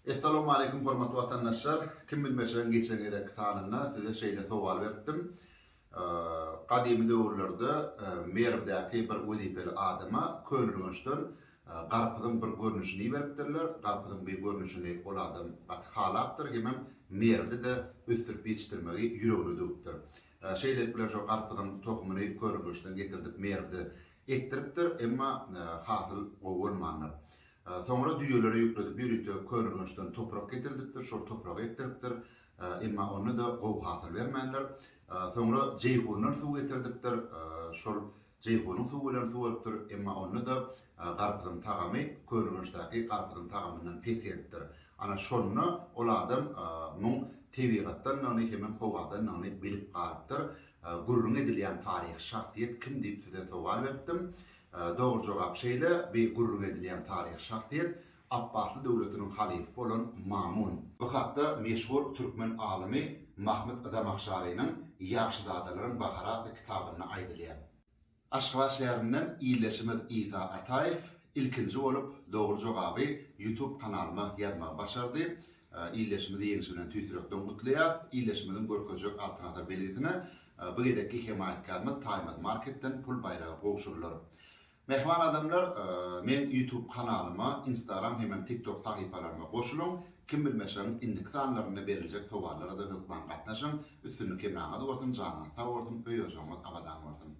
Essalawmaleýkum hormatly watandaşlar! Kim bilmeçileň geçen gezekki sanynda size şeýle sowal beripdim. Gadymy döwürlerde Merwdäki bir wezipeli adama Könürgençden garpyzyň bir görnüşini iberipdirler. Garpyzyň bi görnüşini ol adam gaty halapdyr hemem Merwde-de ösdürip ýetişdirmegi ýüregine düwüpdir. Şeýlelik bilen şo garpyzyň tohumyny Könürgençden getirdip Merwde ekdiripdir, emma hasyl gowy bolmandyr. Soňra düýeleri ýükledip ýörite Könürgençden toprak getirdipdir, şol topragy ekdiripdir. Emma onda-da gowy hasyl bermändir. Soňra Jeýhundan suw getirdipdir. Şol Jeýhunyň suwy bilen suwarypdyr. Emma onda-da garpyzyň tagamy Könürgençdäki garpyzyň tagamyndan pes gelipdir. Ana şonda ol adam muň tebigatdandygyny hemem howadandygyny bilip galypdyr. Gürrüň edilýän taryhy şahsyýet kim diýip size sowal beripdim. Dogry jogap şeýle, beýik gürrüň edilýän taryhy şahsyýet Apbasly döwletiniň halyfy bolan Mamun. Bu hatda meşhur türkmen alymy Mahmyt Zamahşarynyň Ýagşyzadalaryň bahary atly kitabynda aýdylýar. Aşgabat şäherinden ildeşimiz Isa Ataýew ilkinji bolup dogry jogaby Youtube kanalyma ýazmagy başardy. Ildeşimizi ýeňşi bilen tüýs ýürekden gutlaýas. Ildeşimiziň görkezjek Altyn Asar belgisine bu gezekki hemaýatkarymyz Taýmaz Marketden pul baýragy gowşurylar. Mähriban adamlar, meň YouTube kanalyma, Instagram hemem TikTok sahypalaryma goşulyň. Kim bilmeşegiň indiki sanlarynda beriljek sowallara-da hökman gatnaşyň. Üstünlik hemraňyz bolsun, janyňyz sag bolsun, öý-ojagyňyz abadan bolsun!